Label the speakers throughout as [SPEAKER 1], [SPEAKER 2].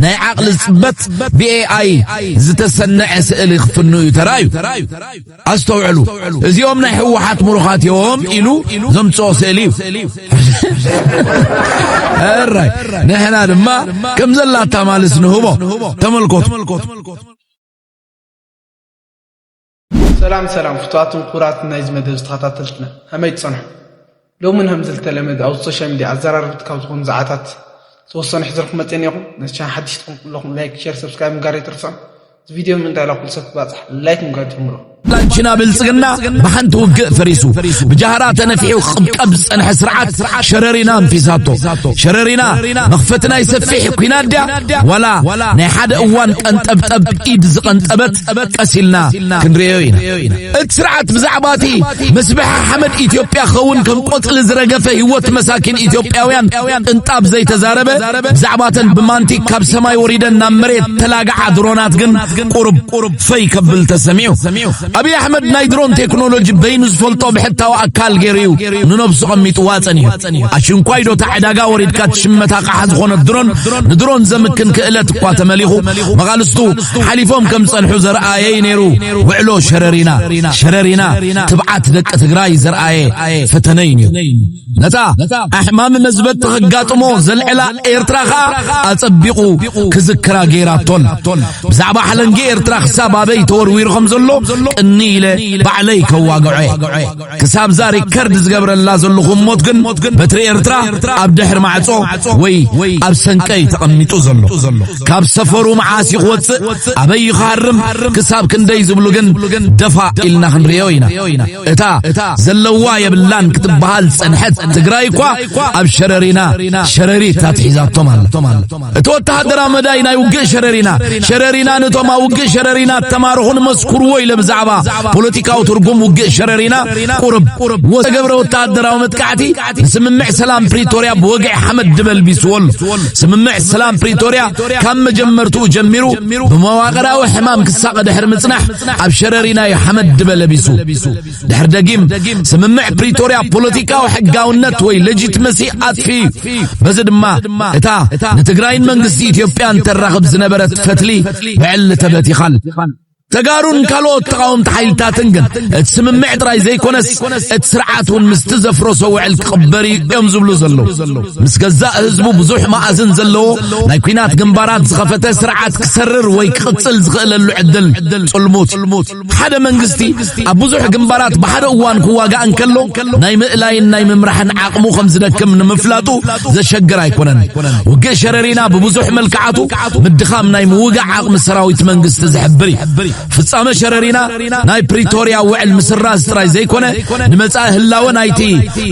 [SPEAKER 1] ናይ ዓቕሊ ጽበት ብኤኣይ ዝተሰነዐ ስእሊ ክፍኑ እዩ ተራእዩ። ኣስተውዕሉ፣ እዚኦም ናይ ህወሓት ምሩኻት እዮም ኢሉ ዘምጽኦ ስእሊ እዩ። እራይ ንሕና ድማ ከም ዘላታ ማልስ ንህቦ። ተመልኮቱ።
[SPEAKER 2] ሰላም ሰላም ፍቱዋትን ኩቡራትን ናይዚ መደብ ዝተኸታተልትና ከመይ ትጸንሑ ሎሚ ን ከምዚ ዝተለመደ ኣብ ሶሻል ሚድያ ኣዘራረብቲ ካብ ዝኾኑ ዛዓታት ዝተወሰኑ ሕዘልኩም መጽ ኔኹም ነዚ ቻና ሓድሽ ትኹም ኩለኹም ላይክ ሸር ሰብስክራይብ ምጋር ኣይትርስዑ እዚ ቪድዮ ምንታይ ላ ኩሉ ሰብ ክባጽሕ ላይክ ምጋር ጀምሮ ላንችና ብልጽግና ብሓንቲ ውግእ ፈሪሱ ብጃህራ ተነፊሑ ክቕብቀብ ዝጸንሐ ስርዓት ሸረሪና ኣንፊሳቶ ሸረሪና መኽፈቲ ናይ ሰፊሕ ኩናት ድያ ዋላ ናይ ሓደ እዋን ቀንጠብጠብ ኢድ ዝቐንጠበት ጠበቅ ቀሲልና ክንሪኦ ኢና እቲ ስርዓት ብዛዕባ እቲ ምስብሐ ሓመድ ኢትዮጵያ ኸውን ከም ቆጽሊ ዝረገፈ ህይወት መሳኪን ኢትዮጵያውያን ቅንጣብ ዘይተዛረበ ብዛዕባተን ብማንቲክ ካብ ሰማይ ወሪደን ናብ መሬት ተላግዓ ድሮናት ግን ቁርብ ፈይ ከብል ተሰሚዑ ኣብይ ኣሕመድ ናይ ድሮን ቴክኖሎጂ በይኑ ዝፈልጦ ብሕታዊ ኣካል ገይሩ እዩ ንነብሱ ቀሚጥዋ ጸኒሑ ኣሽንኳይ ዶ ዕዳጋ ወሪድካ ትሽመታ ቃሓ ዝኾነት ድሮን ንድሮን ዘምክን ክእለት እኳ ተመሊኹ መቓልስቱ ሓሊፎም ከም ዝጸንሑ ዘርኣየ'ዩ ነይሩ ውዕሎ ሸረሪና። ሸረሪና ትብዓት ደቂ ትግራይ ዘርኣየ ፈተነ'ዩ ነይሩ። ነታ ኣሕማሚ መዝበጢ ከጋጥሞ ዘልዕላ ኤርትራ ከኣ ኣጸቢቑ ክዝክራ ገይራቶ ኣላ። ብዛዕባ ሓለንጊ ኤርትራ ክሳብ ኣበይ ተወርዊሩ ከም ዘሎ ቅንይ ኢለ ባዕለይ ከዋግዖ'የ። ክሳብ እዛ ሪከርድ ዝገብረላ ዘለኹ ሞት ግን በትሪ ኤርትራ ኣብ ድሕሪ ማዕጾ ወይ ኣብ ሰንቀ እዩ ተቐሚጡ ዘሎ ካብ ሰፈሩ መዓስ እዩ ክወጽእ ኣበይ እዩ ክሃርም ክሳብ ክንደይ ዝብሉ ግን ደፋ ኢልና ክንርእዮ ኢና እታ ዘለዋ የብላን ክትበሃል ጸንሐት ትግራይ እኳ ኣብ ሸረሪና ሸረሪት ኣትሒዛቶም ኣላ እቲ ወተሃደራዊ መዳይ ናይ ውግእ ሸረሪና ሸረሪና ነቶም ኣብ ውግእ ሸረሪና እተማርኹን መስኩርዎ ኢለ ብዛዕባ ፖለቲካዊ ትርጉም ውግእ ሸረሪና ቁርብ ወተገብረ ወተሃደራዊ መጥቃዕቲ ንስምምዕ ሰላም ፕሪቶርያ ብወግዒ ሓመድ ድበልቢስዎ ኣሎ ስምምዕ ሰላም ፕሪቶርያ ካብ መጀመርትኡ ጀሚሩ ብመዋቕራዊ ሕማም ክሳቐ ድሕሪ ምጽናሕ ኣብ ሸረሪና እዩ ሓመድ ድበለቢሱ ድሕር ደጊም ስምምዕ ፕሪቶርያ ፖለቲካዊ ሕጋውነት ወይ ሌጂትመሲ ኣጥፍዩ እዩ። በዚ ድማ እታ ንትግራይን መንግስቲ ኢትዮጵያን ተራኽብ ዝነበረት ፈትሊ ብዕሊ ተበቲኻል። ተጋሩን ካልኦት ተቃወምቲ ሓይልታትን ግን እቲ ስምምዕ ጥራይ ዘይኮነስ እቲ ስርዓት እውን ምስቲ ዘፍረሶ ውዕል ክቕበር እዩ እዮም ዝብሉ ዘለዉ ምስ ገዛእ ህዝቡ ብዙሕ መኣዝን ዘለዎ ናይ ኩናት ግንባራት ዝኸፈተ ስርዓት ክሰርር ወይ ክቕፅል ዝኽእለሉ ዕድል ፅልሙት ሓደ መንግስቲ ኣብ ብዙሕ ግንባራት ብሓደ እዋን ክዋጋእ እንከሎ ናይ ምእላይን ናይ ምምራሕን ዓቕሙ ከም ዝደክም ንምፍላጡ ዘሸግር ኣይኮነን። ውግእ ሸረሪና ብብዙሕ መልክዓቱ ምድኻም ናይ ምውጋእ ዓቕሚ ሰራዊት መንግስቲ ዝሕብር እዩ። ፍጻመ ሸረሪና ናይ ፕሪቶርያ ውዕል ምስራዝ ጥራይ ዘይኮነ ንመጻኢ ህላወ ናይቲ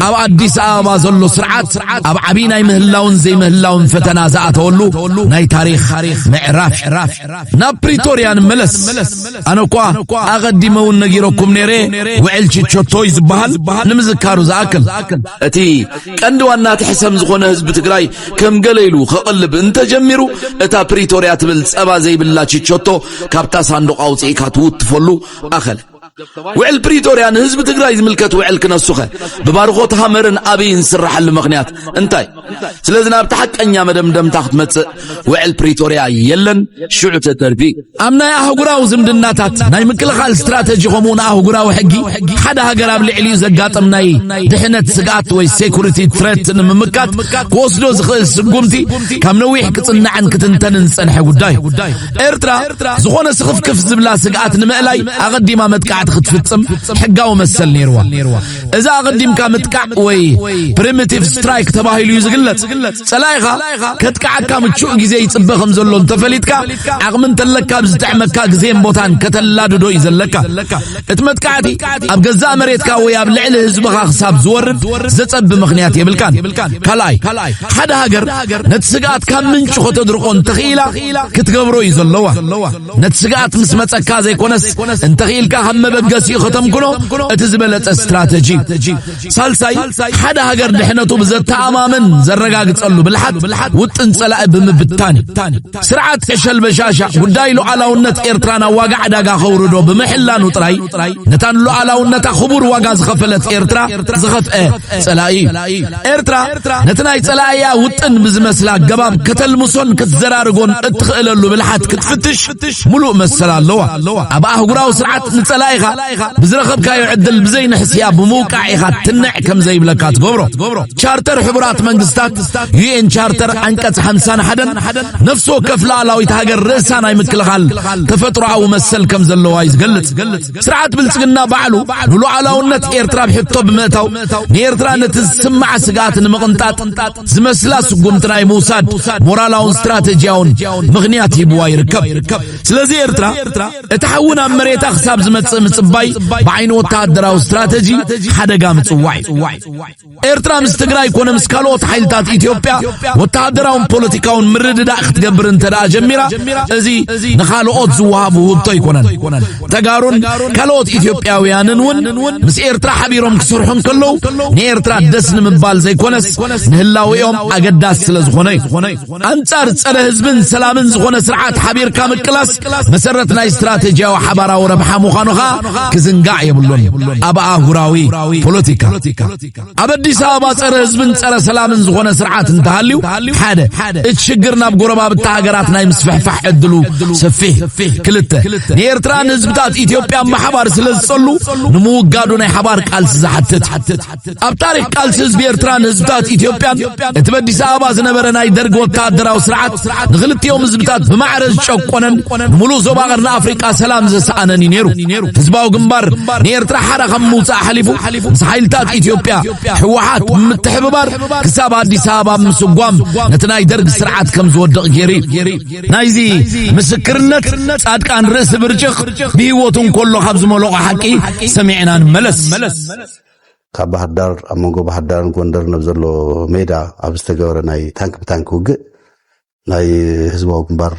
[SPEAKER 2] ኣብ ኣዲስ ኣበባ ዘሎ ስርዓት ኣብ ዓብይ ናይ ምህላውን ዘይምህላውን ፈተና ዝኣተወሉ ናይ ታሪኽ ምዕራፍ ናብ ፕሪቶርያ ንመለስ ኣነ እኳ ኣቐዲመ እውን ነጊረኩም ነይረ ውዕል ችቾቶይ ዝበሃል ንምዝካሩ ዝኣክል እቲ ቀንዲ ዋና እቲ ሕሰም ዝኾነ ህዝቢ ትግራይ ከም ገለ ኢሉ ከቕልብ እንተጀሚሩ እታ ፕሪቶርያ ትብል ጸባ ዘይብላ ችቾቶ ካብታ ሳንዱቕ ኣውፅኢካ ትውትፈሉ ኣኸለ ውዕል ፕሪቶርያ ንህዝቢ ትግራይ ዝምልከት ውዕል ክነሱኸ ብባርኾት ሃመርን ኣብይን ዝስራሓሉ ምኽንያት እንታይ ስለዚ ናብቲ ሓቀኛ መደምደምታ ክትመጽእ ውዕል ፕሪቶርያ የለን ሽዑ ተተርፊ ኣብ ናይ ኣህጉራዊ ዝምድናታት ናይ ምክልኻል ስትራተጂ ከምኡ ንኣህጉራዊ ሕጊ ሓደ ሃገር ኣብ ልዕሊኡ ዘጋጥም ናይ ድሕነት ስግኣት ወይ ሴኩሪቲ ትረት ንምምካት ክወስዶ ዝኽእል ስጉምቲ ካብ ነዊሕ ክጽናዕን ክትንተንን ዝጸንሐ ጉዳይ ኤርትራ ዝኾነ ስኽፍክፍ ዝብላ ስግኣት ንምእላይ ኣቐዲማ መጥቃዕቲ ክትፍጽም ሕጋዊ መሰል ነይርዋ እዛ ኣቐዲምካ ምጥቃዕ ወይ ፕሪሚቲቭ ስትራይክ ተባሂሉ እዩ ዝግለጽ። ጸላኢኻ ከጥቅዓካ ምቹእ ግዜ ይጽበ ከም ዘሎ እንተፈሊጥካ ዓቕሚ እንተለካ ኣብ ዝጥዕመካ ግዜን ቦታን ከተላድዶ እዩ ዘለካ። እቲ መጥቃዕቲ ኣብ ገዛእ መሬትካ ወይ ኣብ ልዕሊ ህዝብኻ ክሳብ ዝወርድ ዘጸቢ ምኽንያት የብልካን። ካልኣይ ሓደ ሃገር ነቲ ስግኣት ካብ ምንጩ ከተድርቆ እንተኽኢላ ክትገብሮ እዩ ዘለዋ። ነቲ ስግኣት ምስ መጸካ ዘይኮነስ እንተኽኢልካ ካብ መበገሲኡ
[SPEAKER 1] ከተምክኖ እቲ ዝበለጸ ስትራተጂ ሳልሳይ ሓደ ሃገር ድሕነቱ ብዘተኣማምን ዘረጋግጸሉ ብልሓት ውጥን ጸላኢ ብምብታን ስርዓት ዕሸል በሻሻ ጉዳይ ሉዓላውነት ኤርትራ ናብ ዋጋ ዕዳጋ ከውርዶ ብምሕላኑ ጥራይ ነታን ሉዓላውነታ ክቡር ዋጋ ዝኸፈለት ኤርትራ ዝኸፍአ ጸላኢ ኤርትራ ኤርትራ ነቲ ናይ ጸላእያ ውጥን ብዝመስል ኣገባብ ከተልምሶን ክትዘራርጎን እትኽእለሉ ብልሓት ክትፍትሽ ምሉእ መሰል ኣለዋ። ኣብ ኣህጉራዊ ስርዓት ንጸላኢኻ ብዝረኸብካዮ ዕድል ብዘይንሕስያ ብምውቃዕ ኢኻ ትንዕ ከም ዘይብለካ ትገብሮ። ቻርተር ሕቡራት መንግስታት ዩኤን ቻርተር ዓንቀጽ ሓምሳን ሓደን ነፍሲ ወከፍ ላዕላዊት ሃገር ርእሳ ናይ ምክልኻል ተፈጥሮኣዊ መሰል ከም ዘለዋ እዩ ዝገልጽ። ስርዓት ብልጽግና ባዕሉ ንሉዓላውነት ኤርትራ ኣብ ሕቶ ብምእታው ንኤርትራ ነቲ ዝስምዓ ስግኣት ንምቕንጣጥ ዝመስላ ስጉምቲ ናይ ምውሳድ ሞራላውን ስትራተጂያውን ምኽንያት ሂብዋ ይርከብ። ስለዚ ኤርትራ እቲ ሓዊ ናብ መሬታ ክሳብ ዝመጽእ ምጽባይ ብዓይኒ ወተሃደራዊ ስትራተጂ ሓደጋ ምጽዋዕ እዩ። ኤርትራ ምስ ትግራይ ኮነ ምስ ካልኦት ሓይልታት ኢትዮጵያ ወተሃደራውን ፖለቲካውን ምርድዳእ ክትገብር እንተ ደኣ ጀሚራ እዚ ንኻልኦት ዝወሃብ ውህብቶ ኣይኮነን ተጋሩን ካልኦት ኢትዮጵያውያንን እውን ምስ ኤርትራ ሓቢሮም ክስርሑ እንከለዉ ንኤርትራ ደስ ንምባል ዘይኮነስ ንህላዊኦም ኣገዳሲ ስለ ዝኾነ እዩ ኣንጻር ጸረ ህዝብን ሰላምን ዝኾነ ስርዓት ሓቢርካ ምቅላስ መሰረት ናይ ስትራቴጂያዊ ሓባራዊ ረብሓ ምዃኑ ኸኣ ክዝንጋዕ የብሉን። ኣብ ኣህጉራዊ ፖለቲካ ኣብ ኣዲስ ኣበባ ጸረ ህዝብን ጸረ ሰላምን ዝኾነ ስርዓት እንተሃልዩ ሓደ እቲ ሽግር ናብ ጎረባብቲ ሃገራት ናይ ምስፍሕፋሕ ዕድሉ ሰፊሕ፣ ክልተ ንኤርትራን ህዝብታት ኢትዮጵያ ምሓባር ስለ ዝጸሉ ንምውጋዱ ናይ ሓባር ቃልሲ ዝሓትት ኣብ ታሪኽ ቃልሲ ህዝቢ ኤርትራን ህዝብታት ኢትዮጵያን እቲ በዲስ ኣበባ ዝነበረ ናይ ደርጊ ወተሃደራዊ ስርዓት ንኽልቲኦም ህዝብታት ብማዕረ ዝጨቆነን ንምሉእ ዞባ ቀርኒ ኣፍሪቃ ሰላም ዘሰኣነን እዩ ነይሩ። ህዝባዊ ግንባር ንኤርትራ ሓራ ካብ ምውፃእ ሓሊፉ ምስ ሓይልታት ኢትዮጵያ ህወሓት ብምትሕብባር ክሳብ ኣዲስ ኣበባ ምስጓም ነቲ ናይ ደርጊ ስርዓት ከም ዝወድቕ ገይሩ እዩ። ናይዚ ምስክርነት ጻድቃን ርእሲ ብርጭቕ ብህይወቱ እንከሎ ካብ ዝመለቖ ሓቂ ሰሚዕና ንመለስ።
[SPEAKER 3] ካብ ባህርዳር ኣብ መንጎ ባህርዳርን ጎንደርን ኣብ ዘሎ ሜዳ ኣብ ዝተገበረ ናይ ታንክ ብታንክ ውግእ ናይ ህዝባዊ ግንባር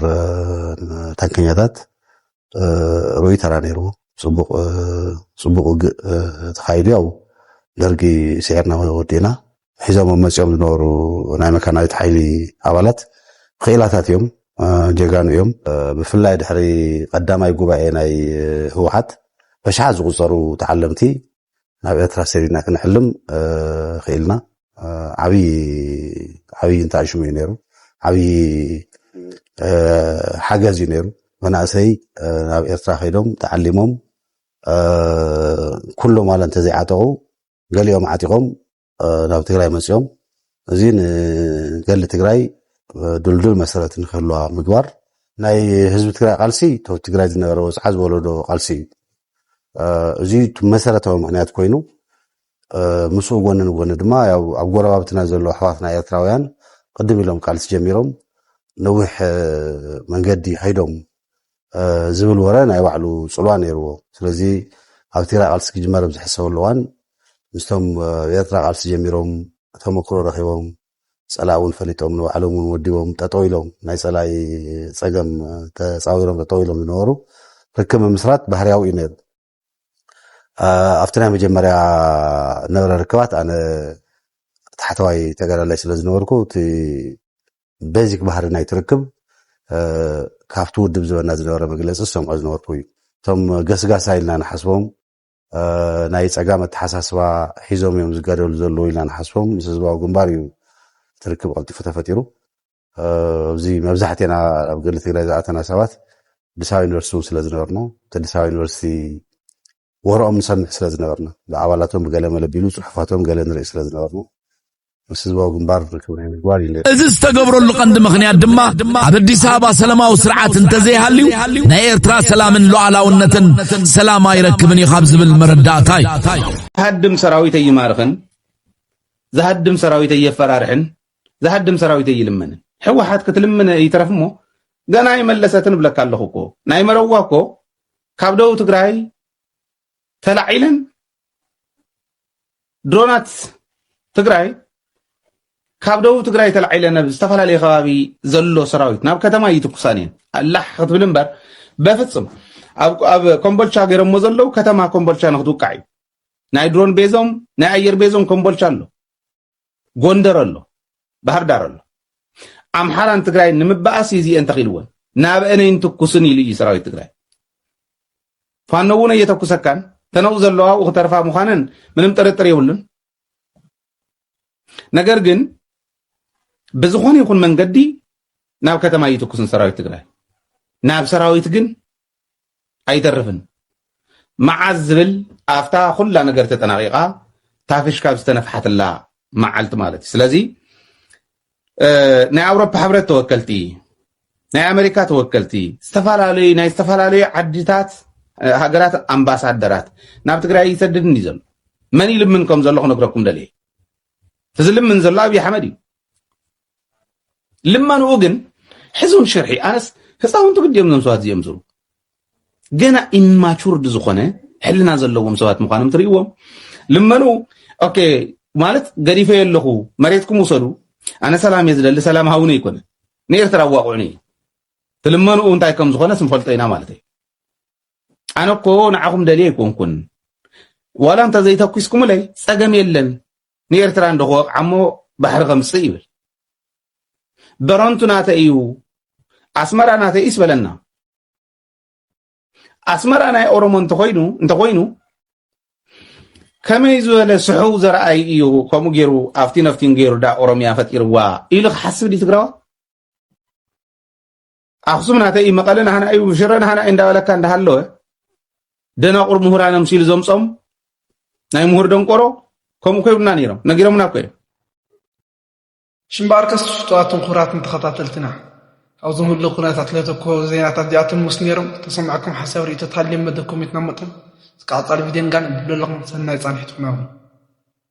[SPEAKER 3] ታንከኛታት ርኡይ ተራ ነይርዎ ፅቡቅ ውግእ ተኻይዱ ያው ደርጊ ስዒርና ወዲእና ሒዞሞም መፂኦም ዝነበሩ ናይ መካናይዝድ ሓይሊ ኣባላት ክኢላታት እዮም፣ ጀጋኑ እዮም። ብፍላይ ድሕሪ ቀዳማይ ጉባኤ ናይ ህወሓት በሽሓት ዝቑፀሩ ተዓለምቲ ናብ ኤርትራ ሰዲድና ክንሕልም ክኢልና ዓብዪ ዓብዪ እንተኣሽሙ እዩ ነይሩ ዓብዪ ሓገዝ እዩ ነይሩ መናእሰይ ናብ ኤርትራ ከይዶም ተዓሊሞም ኩሎም ዋላ እንተዘይዓጠቑ ገሊኦም ዓጢቖም ናብ ትግራይ መፂኦም እዚ ንገሊ ትግራይ ድልዱል መሰረት ንክህልዋ ምግባር ናይ ህዝቢ ትግራይ ቃልሲ ቶ ትግራይ ዝነበረ ወፅዓ ዝወለዶ ቃልሲ እዩ እዚ መሰረታዊ ምክንያት ኮይኑ ምስኡ ጎኒ ንጎኒ ድማ ኣብ ጎረባብትና ዘሎ ኣሕዋትና ኤርትራውያን ቅድም ኢሎም ቃልሲ ጀሚሮም ነዊሕ መንገዲ ከይዶም ዝብል ወረ ናይ ባዕሉ ጽልዋ ነይርዎ። ስለዚ ኣብ ትግራይ ቃልሲ ክጅመር ኣብ ዝሕሰበሉ እዋን ምስቶም ኣብ ኤርትራ ቃልሲ ጀሚሮም ተመክሮ ረኺቦም ጸላኢ እውን ፈሊጦም ንባዕሎም እውን ወዲቦም ጠጠው ኢሎም ናይ ጸላኢ ጸገም ተጻዊሮም ጠጠው ኢሎም ዝነበሩ ርክብ ምምስራት ባህርያዊ እዩ ነይሩ። ኣብቲ ናይ መጀመርያ ነበረ ርክባት ኣነ ታሕተዋይ ተጋዳላይ ስለ ዝነበርኩ እቲ ቤዚክ ባህሪ ናይ ትርክብ ካብቲ ውድብ ዝበና ዝነበረ መግለፂ ዝሰምዖ ዝነበርኩ እዩ እቶም ገስጋሳ ኢልና ንሓስቦም ናይ ፀጋም ኣተሓሳስባ ሒዞም እዮም ዝጋደሉ ዘለዉ ኢልና ንሓስቦም ምስ ህዝባዊ ግንባር እዩ ትርክብ ቀልጢፉ ተፈጢሩ ኣብዚ መብዛሕትና ኣብ ገሊ ትግራይ ዝኣተና ሰባት ኣዲስ ኣበባ ዩኒቨርሲቲ እውን ስለዝነበርና እቲ ኣዲስ ኣበባ ዩኒቨርሲቲ ወረኦም ንሰምዕ ስለዝነበርና ብኣባላቶም ብገለ መለቢሉ ፅሑፋቶም ገለ ንርኢ ስለዝነበርና ምስ ህዝባዊ ግንባር ርክብ ናይ ምግባር እዩ እዚ ዝተገብረሉ
[SPEAKER 1] ቀንዲ ምክንያት ድማ ኣብ ኣዲስ ኣበባ ሰላማዊ ስርዓት እንተዘይሃልዩ ናይ ኤርትራ ሰላምን ሉዓላውነትን ሰላም ኣይረክብን እዩ ካብ ዝብል መረዳእታ እዩ ሃድም
[SPEAKER 4] ሰራዊት ኣይማርኽን ዝሃድም ሰራዊት ኣየፈራርሕን ዝሃድም ሰራዊት ኣይልምንን ሕወሓት ክትልምነ ይትረፍሞ ገና ኣይመለሰትን እብለካ ኣለኹ እኮ ናይ መረዋ እኮ ካብ ደቡብ ትግራይ ተላዒለን ድሮናት ትግራይ ካብ ደቡብ ትግራይ ተላዒለን ኣብ ዝተፈላለየ ከባቢ ዘሎ ሰራዊት ናብ ከተማ ይትኩሳን እየን ኣላሕ ክትብል እምበር በፍፅም ኣብ ኮምቦልቻ ገይረሞ ዘለው ከተማ ኮምቦልቻ ንክትውቃዕ እዩ ናይ ድሮን ቤዞም ናይ ኣየር ቤዞም ኮምቦልቻ ኣሎ ጎንደር ኣሎ ባህርዳር ኣሎ ኣምሓራን ትግራይን ንምበኣስ እዩ እዚኤን ተኺልወን ናብአነይን ትኩስን ኢሉ እዩ ሰራዊት ትግራይ ፋኖ እውን እየተኩሰካን ተነኡ ዘለዋ ኣብኡ ክተርፋ ምዃነን ምንም ጥርጥር የብሉን ነገር ግን ብዝኾነ ይኹን መንገዲ ናብ ከተማ እይትኩስን ሰራዊት ትግራይ ናብ ሰራዊት ግን ኣይተርፍን መዓዝ ዝብል ኣፍታ ኩላ ነገር ተጠናቂቃ ታፍሽ ካብ ዝተነፍሓትላ መዓልቲ ማለት እዩ ስለዚ ናይ ኣውሮፓ ሕብረት ተወከልቲ ናይ ኣሜሪካ ተወከልቲ ዝተፈላለዩ ናይ ዝተፈላለዩ ዓድታት ሃገራት ኣምባሳደራት ናብ ትግራይ ይሰድድን እዩ ዘሎ መን ይልምን ከም ዘሎ ክነግረኩም ደልየ እዚ ልምን ዘሎ ኣብዪ ኣሕመድ እዩ ልመንኡ ግን ሕዝውን ሽርሒ ኣነስ ህፃውንቲ ግዲ እዮም ዞም ሰባት እዚኦም ዝሩ ገና ኢማቹርድ ዝኾነ ሕልና ዘለዎም ሰባት ምዃኖም ትርእዎም ልመኑ ኦኬ ማለት ገዲፈ ኣለኹ መሬትኩም ውሰዱ ኣነ ሰላም እየ ዝደሊ ሰላም ሃውነ ይኮነ ንኤርትራ ኣዋቕዑኒ እዩ ትልመንኡ እንታይ ከም ዝኾነ ስንፈልጦ ኢና ማለት እዩ ኣነ እኮ ንዓኹም ደልየ ኣይኮንኩን ዋላ እንተዘይተኪስኩምለይ ፀገም የለን ንኤርትራ እንዶ ክወቕዓሞ ባሕሪ ከምጽእ ይብል በረንቱ ናተይ እዩ ኣስመራ ናተይ እዩስ በለና ኣስመራ ናይ ኦሮሞ እንተኮይኑ እንተኮይኑ ከመይ ዝበለ ስሑው ዘረኣይ እዩ ከምኡ ገይሩ ኣብቲ ነፍቲን ገይሩ ዳ ኦሮሚያ ፈጢርዋ ኢሉ ክሓስብ ድዩ ትግራዋ ኣክሱም ናተይ እዩ መቐለ ናህና እዩ ሽረ ናህና እዩ እንዳበለካ እንዳሃለወ ደናቑር ምሁራን እዮም ሲሉ ዘምፆም ናይ ምሁር ደንቆሮ ከምኡ ኮይብና ነይሮም ነጊሮምና እኮ እዮም ሽምባርከስ
[SPEAKER 2] ትፍትዋትን ኩራትን ተኸታተልትና ኣብዚ ምሉ ኩነታት ለተኮ ዜናታት እዚኣቶም ምስ ነይሮም ተሰማዕኩም ሓሳብ ርእቶ ታልዮም መደብ ኮሚትና መጠን ዝቃፃል ቪድዮን ጋን ብለለኹም ሰናይ ፃንሒት ኩናኹም